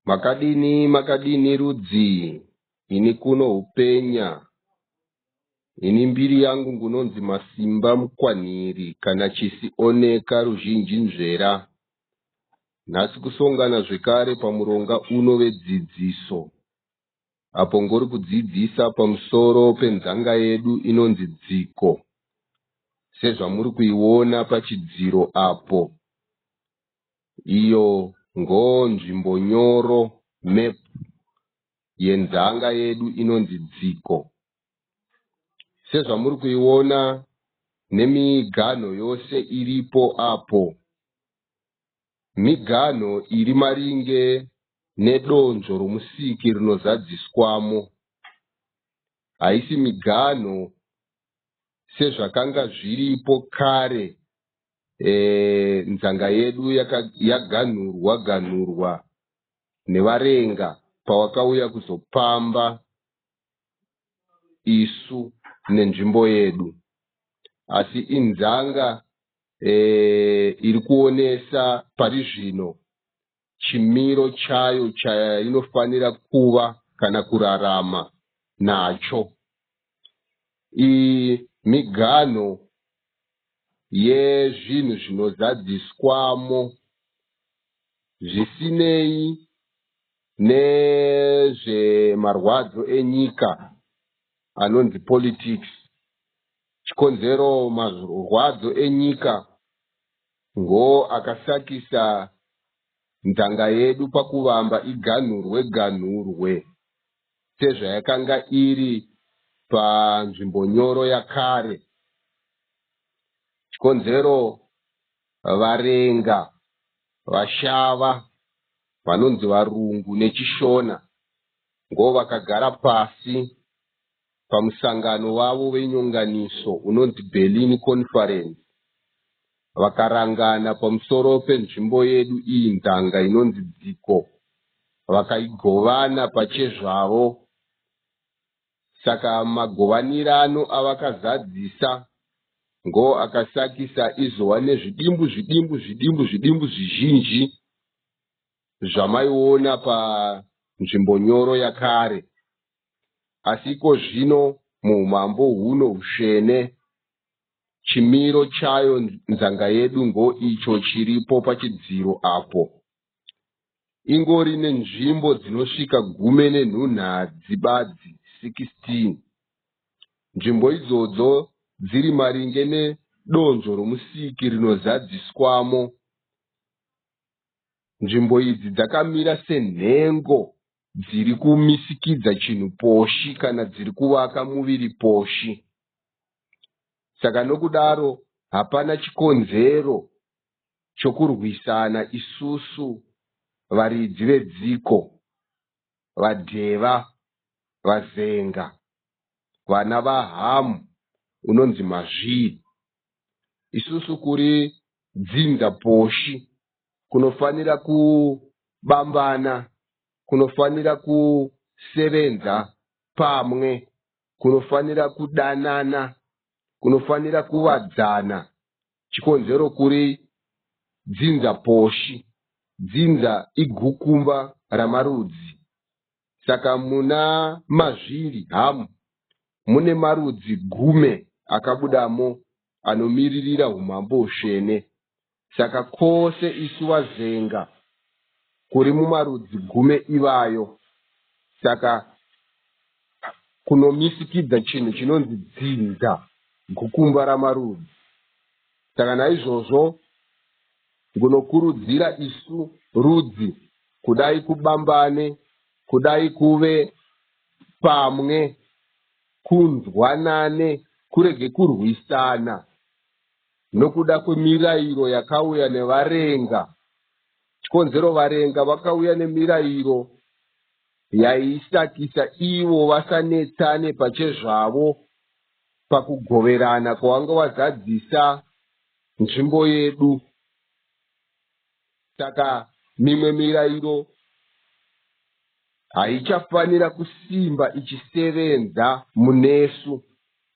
Makadini makadini rudzii ini kuno hupenya ini mbiri yangu ngunonzi masimba mukwanhiri kana chisi oneka ruzhinji nzvera nhasi kusongana zvekare pamuronga uno vedzidziso apo ngori kudzidzisa pamusoro penzanga yedu inonzi dziko sezvamuri kuiona pachidziro apo iyo ngo nzvimbo nyoro map yenzanga yedu inonzi dziko sezvamuri kuiona nemiganho yose iripo apo miganho iri maringe nedonzvo romusiki rinozadziswamo haisi miganho sezvakanga zviripo kare eh, nzanga yedu yaganhurwa ganhurwa nevarenga pawakauya kuzopamba isu nenzvimbo yedu asi inzanga eh, iri kuonesa pari zvino chimiro chayo chainofanira kuva kana kurarama nacho. Iyi miganho yezvinhu zvinozadziswamo zvisinei nezvemarwadzo enyika anonzi politics chikonzero marwadzo enyika Ngo akasakisa nzanga yedu pakuvamba iganhurwe ganhurwe sezvayakanga iri panzvimbonyoro yakare. Chikonzero Varenga, Vashava, vanonzi Varungu neChishona, ngo vakagara pasi Pamusangano wavo wenyonganiso unonzi Berlin Conference, vakarangana pamusoro penzvimbo yedu iyi ndanga inonzi dziko vakaigovana pachezvavo. Saka magovanirano avakazadzisa ngoo akasakisa izova nezvidimbu zvidimbu zvidimbu zvidimbu zvizhinji zvamaiona panzvimbo nyoro yakare. Asi ikozvino muumambo huno husvene, chimiro chayo nzanga yedu ngoicho chiripo pachidziro apo. Ingori nenzvimbo dzinosvika gume nenhunhadzi badzi, 16. Nzvimbo idzodzo dziri maringe nedonzvo roMusiki rinozadziswamo. Nzvimbo idzi dzakamira senhengo dziri kumisikidza chinhu poshi kana dziri kuvaka muviri poshi saka nokudaro hapana chikonzero chokurwisana isusu varidzi vedziko vadheva vazenga vana vahamu unonzi mazvii isusu kuri dzinza poshi kunofanira kubambana kunofanira kusevenza pamwe kunofanira kudanana kunofanira kuvadzana chikonzero kuri dzinza poshi dzinza igukumba ramarudzi Saka muna mazviri hamu mune marudzi gume akabudamo anomiririra humambo hutsvene. Saka kose isu vaZenga kuri mumarudzi gume ivayo. Saka kunomisikidza chinhu chinonzi dzinza, gukumba ramarudzi. Saka naizvozvo Ngunokurudzira isu rudzi kudai kubambane kudai kuve pamwe kunzwanane kurege kurwisana nokuda kwemirairo yakauya nevarenga chikonzero varenga vakauya nemirairo yaisakisa ivo vasanetsane pachezvavo pakugoverana kwavanga vazadzisa nzvimbo yedu saka mimwe mirairo haichafanira kusimba ichisevenza munesu